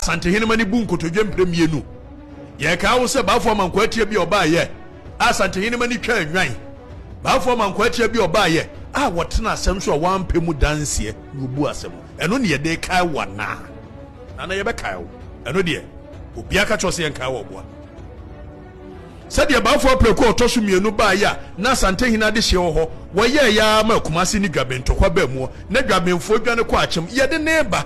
Santehenemma no bu nkotodwe mprɛ mmienu. Yɛkae wo sɛ Baafoɔ Amankwaatia bi a ɔbaeɛ a Santehenemma no twaa nnwan. Baafoɔ Amankwaatia bi a ɔbaeɛ a ɔtenaa asɛm so a wampɛ mu danseɛ na ɔbuu asɛm. Ɛno ne yɛde rekae wo anaa? Nana, yɛbɛkae wo. Ɛno deɛ, obiara ka kyerɛ wo sɛ yɛnkae wo ɔboa. Sɛdeɛ Baafoɔ Apraku a ɔtɔ so mmienu baeɛ a na Asantehene adehyeɛ wɔ hɔ, wɔyɛeɛ ara maa Kumase ne Dwaben ntɔkwa baa muɔ, na Dwabenfoɔ dwane kɔɔ Akyem. Yɛde no reba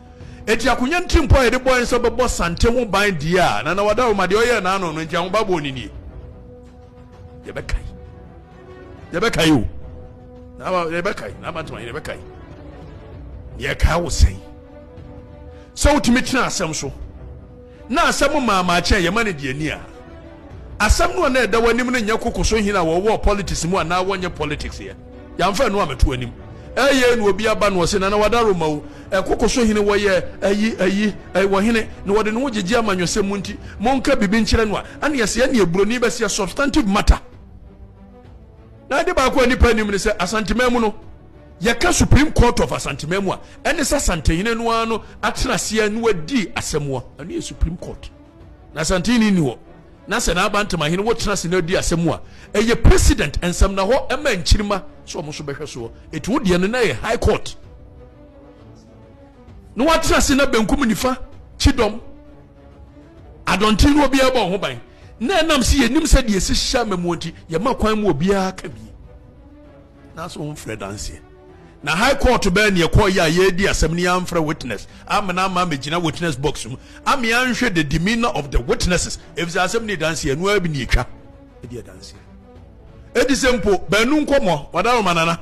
Enti akonya ntirimpɔ a yɛde bɔe no sɛ wɔbɛbɔ santen ho ban deɛ a Nana Wadaro ma deɛ ɔyɛɛ n'ano no nti ahobaboɔ no nie. Yɛbɛkae. Yɛbɛkae o. N'aba yɛbɛkae. N'aba ntoma yɛbɛkae. Yɛkae wo sɛn? Sɛ wotumi tena asɛm so. Na asɛm mmaama kyɛn yɛma no deɛ ni a, asɛm no a na ɛda w'anim no nyɛ koko so hene a wɔwɔɔ politics mu anaa wɔnyɛ politics yɛ. Yɛamfa ɛno ammɛto w'anim. Ɛyɛe na obi aba na ɔse, Nana Wada Roma o, ɛ, koko so hene wɔyɛ ayi, ayi, ɛ, wɔ hene na wɔde ne ho gyegye amanyɔsɛm mu nti, monka biribi nkyerɛ no a, ɛne yɛse ɛneɛ buroni bɛse ɛ, substantive matter. Na ade baako a nnipa nnim ne sɛ, Asanteman mu no, Yɛka Supreme Court of Asanteman mu a, ɛne sɛ Asantehene no ara no atena ase a na wadi asɛmmoa. Ɛno yɛ Supreme Court. Na Asantehene nni hɔ, na sɛ n'abantemahene wɔ tena ase na ɔdi asɛm mu a, ɛyɛ President nsam, na hɔ ɛma nkyirimma sɛ wɔn nso bɛhwɛ soɔ. Ɛtu wo deɛ no, na ɛyɛ High Court. Na wɔatena ase na benkum nifa, kyidɔm, adɔnten no obiara bɔ ho ban. Na ɛnam sɛ yɛnim sɛ deɛ ɛsi hyɛ amamuo nti, yɛma kwan mu obiara ka bi. Na so womfrɛ danseɛ? Na high court bɛɛ neɛ kɔɔ yɛ a yɛɛdi asɛm no yɛamfrɛ witness ammena amma mɛgyina witness box mu ame anhwɛ the demeanor of the witnesses ɛfisɛ asɛm no yɛ danseɛ ɛno ara bi ne ɛtwa ɛdi adanseɛ ɛdi sɛ mpo baanu nkɔmɔ wada roma nana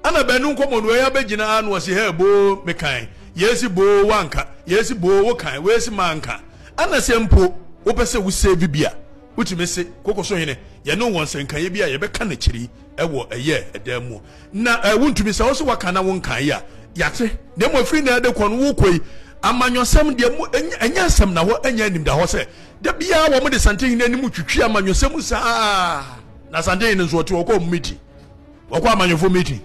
ana baanu nkɔmɔ no ɛyɛ abɛgyina a na wɔsi hɛ boo mekan yɛsi boo wanka yɛsi boo wokan wɔsi manka ana sɛ mpo wopɛ sɛ wo save bi a wotumi se kokoso hene yɛne wɔn sɛnkaeɛ bi a yɛbɛka n'akyiri wɔ ɛyɛ ɛdan mu na wontumi sɛ ɔsɛ waka na wonkan yɛ a yɛate na mmom ɛfiri na ɛde kɔ no wokɔ yi amanyɔsɛm deɛ mu ɛnyɛ nsɛm na hɔ ɛnyɛ anim da hɔ sɛ da biara wɔn de santehene anim twitwi amanyɔsɛm saa na santehene nso ɔte ɔkɔ ɔmo meeting ɔkɔ amanyɔfo meeting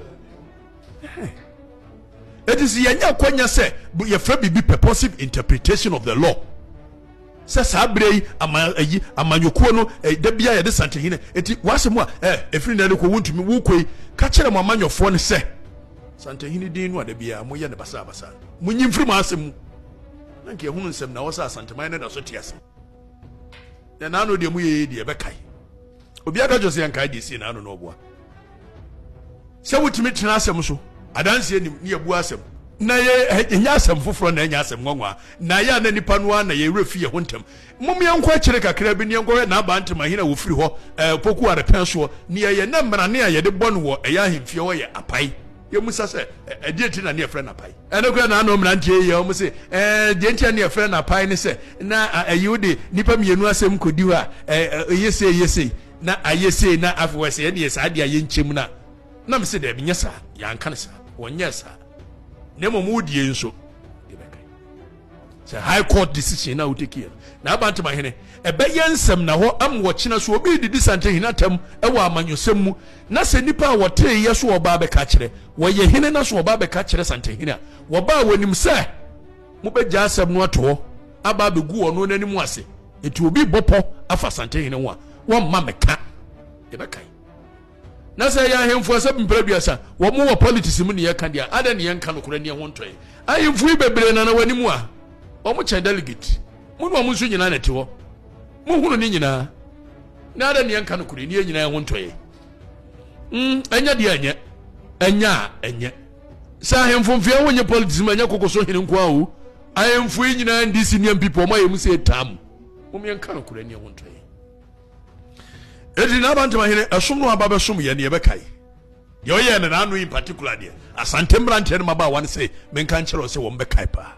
It is yɛnya akwanya sɛ yɛfrɛ biribi purposive interpretation of the law sɛ saa berɛ yi ama ayi amanyɔkuo no da bia yɛde santehinɛ eti wɔasɛ mu a ɛfiri nɛ no kɔ wontumi wokɔ yi ka kyerɛ mo amanyɔfoɔ no sɛ santehene din no a da biara moyɛ no basabasa monyi mfiri mo asɛm mu na nka ɛhono nsɛm na wɔ sɛ asanteman no da so te ase Na n'ano deɛ mo yɛyɛ deɛ ɛbɛkae. Obi aka kyerɛ sɛ yɛnkae deɛ sie n'ano na ɔboa. Sɛ wotumi tena asɛm so, adanseɛ nim ne yɛbua asɛm. Na yɛ ɛnyɛ asɛm foforɔ na ɛnyɛ asɛm nwanwa. Na yɛ a na nipa no ara na yɛn werɛ fi yɛn ho ntɛm. Mom yɛnkɔ akyire kakra bi na yɛnkɔhwɛ N'aba Ntem ahene a wɔfiri hɔ, ɛɛ, Opoku Arepɛn soɔ. Nea yɛn na mmarane a yɛde bɔ no wɔ ɛyɛ ahemfie hɔ yɛ apae. Yɛmmisa sɛ, Ɛdeɛn nti na ne yɛfrɛ no apae? Ɛno koraa na ano mmeranteɛ yi yɛ. Wɔse, Ɛɛ, deɛ nti a ne yɛfrɛ no apae ne sɛ, na ɛyɛ wo de nnipa mmienu asɛm kɔdi hɔ a, ɛyɛ sei, ɛyɛ sei, na ayɛ sei, na afei wɔyɛ sɛ yɛdeɛ saa deɛ a yɛnkyɛm no a. Na mese, Daabi, nyɛ saa. Yɛanka no saa. Wɔnyɛɛ saa. Na mmom wo deɛ yi nso, sɛ high court decision na woteki yɛ na abantam ahene ɛbɛyɛ nsɛm na hɔ am wɔkyena so obi didi sante hene atam ɛwɔ amanyɔsɛm mu na sɛ nipa a wɔtee yɛ so ɔbaa bɛka kyerɛ wɔyɛ hene na so ɔbaa bɛka kyerɛ sante hene a wɔbaa wɔnim sɛ mobɛgya asɛm no ato hɔ aba abɛgu ɔno n'anim ase eti obi bɔpɔ afa sante hene ho a wɔmma meka yɛbɛkan Na sɛ ɛyɛ ahemfo asɛm mpra aduasa, wɔn wɔ politics mu ne yɛka deɛ a, adɛn ne yɛnka nokorɛ ne ɛho ntɔe? Ahemfo yi bebree na na wɔn anim a, wɔn kyɛn delegate. Mo ne wɔn nso nyinaa na ɛte hɔ. Mohunu ne nyinaa. Na adɛn ne yɛnka nokorɛ ne yɛn nyinaa ɛho ntɔe? Mm, ɛnyɛ deɛ ɛnyɛ. Ɛnyɛ a ɛnyɛ. Sɛ ahemfo mfeɛ ho nyɛ politics mu, ɛnyɛ koko so hene nko a o. Ahemfo yi nyinaa ndi senior people, wɔn ayɛ mu sɛ ɛtaa mu. Mom yɛnka nokorɛ ne ɛho ntɔe. Enti n'abantama hene ɛsom no aba bɛsom yɛn deɛ ɛbɛkae deɛ ɔyɛɛ no n'ano in particular deɛ asante mmeranteɛ no mabaawa no sɛ menka nkyerɛ wo sɛ wɔn bɛkae paa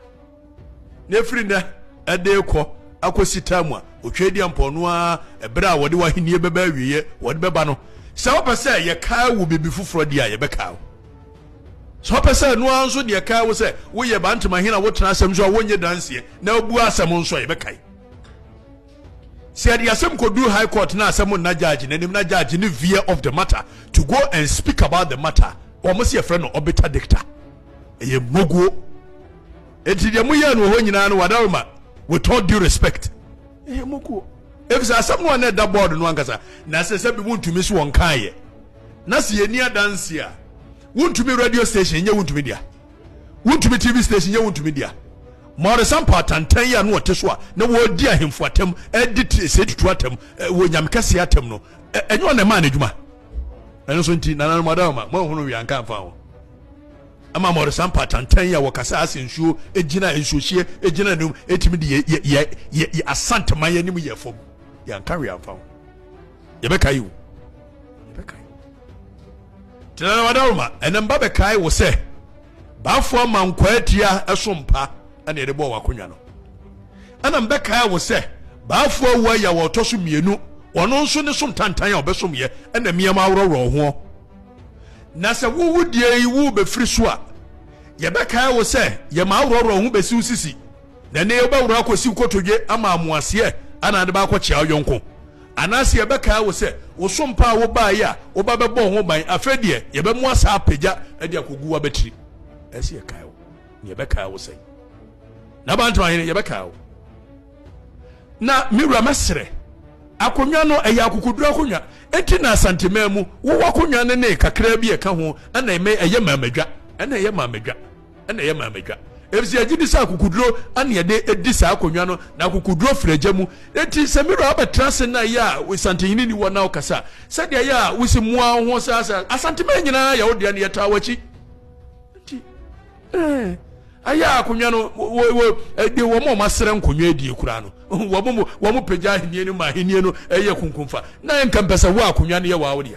na ɛfiri nnɛ ɛde kɔ akɔsi taa mu a ɔtwa di ampɔno a ɛberɛ a wɔde w'ahennie bɛba awieɛ wɔde bɛba no sɛ wopɛ sɛ yɛkae wo biribi foforɔ deɛ a yɛbɛkae wo sɛ wopɛ sɛ ɛno ara nso deɛ kae wo sɛ woyɛ bantama hene a wotena asɛm so a wonyɛ danseɛ na wobu asɛm nso a yɛbɛkae Sɛ yɛde asɛm kɔduru High Court na asɛm nna judge n'anim na judge ne veer off the matter to go and speak about the matter, wɔn se yɛfrɛ no ɔbeta dicta. Ɛyɛ mmoguo. Enti deɛ moyɛɛ no wɔ hɔ nyinaa no wadaroma with all due respect. Ɛyɛ mmoguo. Efisɛ asɛm no a na ɛda board no ankasa na sɛ sɛ bi wontumi so wɔn kaayɛ. Na sɛ yɛni adanse a wontumi radio station nyɛ wontumi dea. Wontumi TV station yɛ wontumi dia. Mɔresa mpa atantan yi a na wɔte so a na wɔredi ahemfo atam, ɛdi tese tutu atam, wɔ nyamekɛseɛ atam no, ɛnyɛ wɔn na ɛmaa n'adwuma. Ɛno nso nti nananom adawoma moahunu wia nka mfa ho. Ɛma mɔresa mpa atantan yi a wɔkasa ase nsuo gyina nsuohyeɛ gyina anim ɛtumi de yɛ yɛ yɛ yɛ asanteman anim yɛ fam yɛnka wia mfa ho. yɛbɛkae o yɛbɛkae tena wadaroma ɛnɛ mba bɛkae wo sɛ baafo ama nkwaa tia ɛso mpa ɛna yɛde bɔɔ wakonnwa no ɛna mbɛkae wo sɛ baafo awu aya wɔ ɔtɔ so mmienu ɔno nso ne som tantan a ɔbɛsom yɛ ɛna mmiɛma aworɔworɔ ho na sɛ wowu deɛ yi wo bɛfiri so a yɛbɛkae wo sɛ yɛma aworɔworɔ ho bɛsi wo sisi na ɛne yɛwobɛworɔ akɔsi wo kotodwe ama amoaseɛ ana de baakɔkyea wo yɔnko Anaase yɛbɛkae wo sɛ wo so mpa a wobaeɛ a woba bɛbɔɔ ho ban, afei deɛ yɛbɛmoa saa apagya de akɔgu w'abatiri? Ɛsɛ yɛkae wo, na yɛbɛkae wo sɛn? N'abantoahene, yɛbɛkae wo. Na me wura mɛserɛ. Akonnwa no, ɛyɛ akokoduro akonnwa, enti na Asanteman mu wowɔ akonnwa no ne kakraa bi a ɛka ho, ɛna ɛmɛ ɛyɛ maamadwa, ɛna ɛyɛ maamadwa. na ɛyɛ maamadwa efisɛ yɛgye di sɛ akokoduro ana yɛde edi saa akonnwa no na akokoduro firi agya mu eti sɛ mmerɛ abɛtena ase na yɛ a wosantenyini ni wɔ na ɔkasa sɛdeɛ yɛ a wosi mua wo ho saa saa asantemɛ nyinaa yɛ wo deɛ no yɛtaa w'akyi nti ɛɛ ayɛ a akonnwa no wɔ wɔ ɛde wɔn a wɔn asrɛ nkonnwa adie koraa no wɔn mo wɔn mo pagya ahenni no ma ahenni no ɛyɛ kunkunfa na yɛn nka mpɛ sɛ wo akonnwa no yɛ wɔ awo deɛ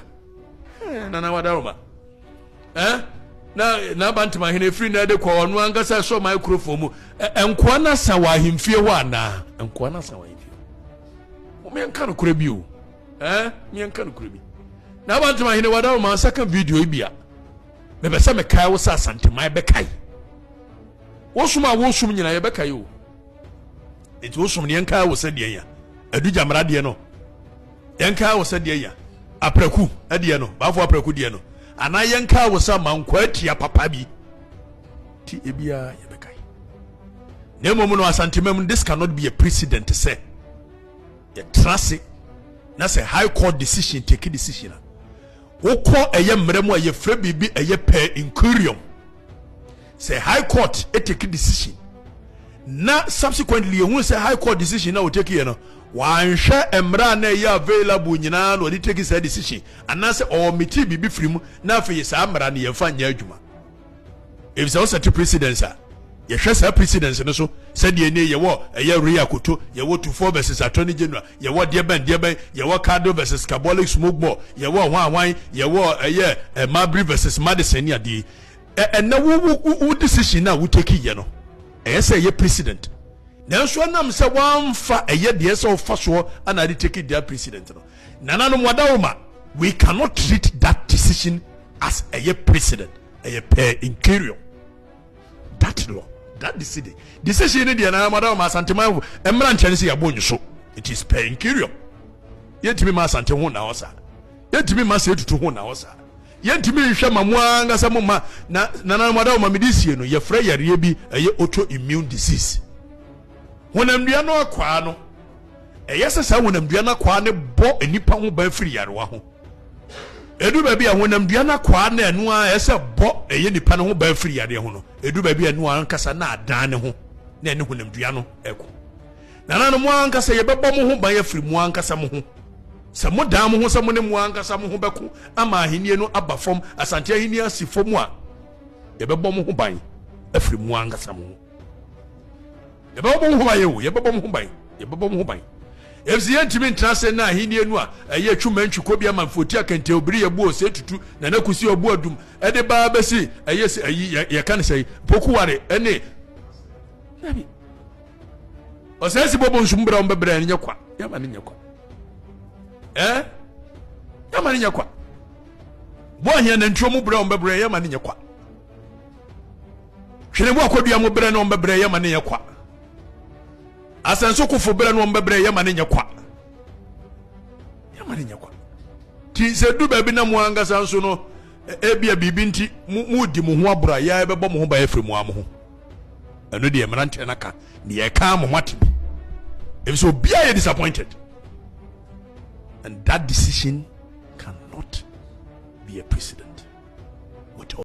ɛɛ nana wadaroma. Ɛ, na n'abantemahene efiri nnɛ de kɔ ɔno ankasa ɛsoro microphone mu. Ɛ, nkoa no asa wɔ ahemfie hɔ anaa? Nkoa no asa wɔ ahemfie hɔ. Mo yɛnka no korɛ bi o. Ɛ, mo yɛnka no korɛ bi. N'abantemahene wada o, mansa ka video yi bia. Mepɛ sɛ mekae wo sɛ Asantema, yɛbɛkae. Wosom a wosom nyina yɛbɛkae o. Enti wosom no yɛnkae wo sɛ deɛn a, Adu Gyamera deɛ no. Yɛnkaa wo sɛ deɛ ya apraku deɛ no, baafo apraku deɛ no, anaa yɛnkaa wo sɛ ma nkɔ atia papa bi ti ebiara yɛbɛkae. Na mmom no asantemam no, this cannot be a precedent sɛ yɛtra ase na sɛ high court decision take decision a wokɔ ɛyɛ mmerɛ mu a yɛfrɛ biribi ɛyɛ per incurium Sɛ high court take decision na subsequently yɛhunu sɛ high court decision na wɔtake yɛ no wanhwɛ mmerɛ a na ɛyɛ available nyinaa na ɔde take saa decision anaasɛ ɔɔmete biribi firi mu na afei saa mmara no yɛmfa nyɛ adwuma ɛfisɛ wosɛte precedence a yɛhwɛ saa precedence no so sɛdeɛ ne yɛwɔ ɛyɛ Rio Akoto yɛwɔ Tufo versus Attorney General yɛwɔ deɛbɛn deɛbɛn yɛwɔ Cardo versus Carbolic Smoke Ball yɛwɔ hwan hwan yɛwɔ ɛyɛ eh, Marbury versus Madison ne adeɛ Ɛ ɛnɛ wo wo wo decision no a wo take yɛ no ɛyɛ sɛ ɛyɛ president nanso ɛnam sɛ wɔamfa ɛyɛ deɛ sɛ ɔfa soɔ ana ade take deɛ president no nananom wada wo ma we cannot treat that decision as ɛyɛ president ɛyɛ per interior that law that decision decision no deɛ nananom wada wo ma asantemanfo mmra nkyɛn sɛ yɛabɔ nyiso it is per interior yɛntumi ma asante ho na hɔ saa yɛntumi ma sɛ ɛtutu ho na hɔ saa Yɛntumi nhwɛ mma mo ara ankasa mo mma na nananom adawoma mede sie no yɛfrɛ yareɛ bi ɛyɛ autoimmune disease honamdua no akwaa no ɛyɛ sɛ saa honamdua no akwaa no bɔ nnipa ho ban firi yarewa ho ɛdu baabi a honamdua no akwaa no ɛno ara ɛsɛ bɔ ɛyɛ nnipa no ho ban firi yareɛ ho no ɛdu baabi a ɛno ankasa na adan ne ho na ɛne honamdua no ɛko Nananom, mo ankasa yɛbɛbɔ mo ho ban afiri mo ankasa mo ho. Sɛ modan mo ho sɛ mo ne mo ankasa mo ho bɛko ama ahennie no aba fam, Asante Ahennie asi fam a, yɛbɛbɔ mo ho ban afiri mo ankasa mo ho. Yɛbɛbɔ mo ho ban o, yɛbɛbɔ mo ho ban, yɛbɛbɔ mo ho ban. Efisɛ yɛntumi ntena ase nna ahennie no a ɛyɛ twuma ntwi kɔ bi ama mfoti akɛntɛn obiri yɛbu ose tutu na na kusi ɔbo adum ɛde ba abɛsi ɛyɛ sɛ ayi yɛka ne sɛe pokuware ɛne dabi ɔsɛ si bɔbɔ nsum brɛ ɔmbɛbrɛ no nyɛ kwa yɛma no nyɛ kwa eh yɛma no nyɛ kwa bɔ ahia nantwuo mu brɛ ɔmbɛbrɛ yɛma no nyɛ kwa hwene bo akɔdua mu brɛ no ɔmbɛbrɛ yɛma no nyɛ kwa asɛnso kofo brɛ no ɔmbɛbrɛ yɛma no nyɛ kwa yɛma no nyɛ kwa ti sɛ du baabi na mo ankasa nso no Ebia biribi nti moredi mo ho aboro a yɛa ɛbɛbɔ mo ho ban afiri mo ara mo ho. Ɛno deɛ mmeranteɛ no aka deɛ ɛka ama moate bi. Ɛfiri sɛ obiara yɛ disappointed. And that decision cannot be a precedent.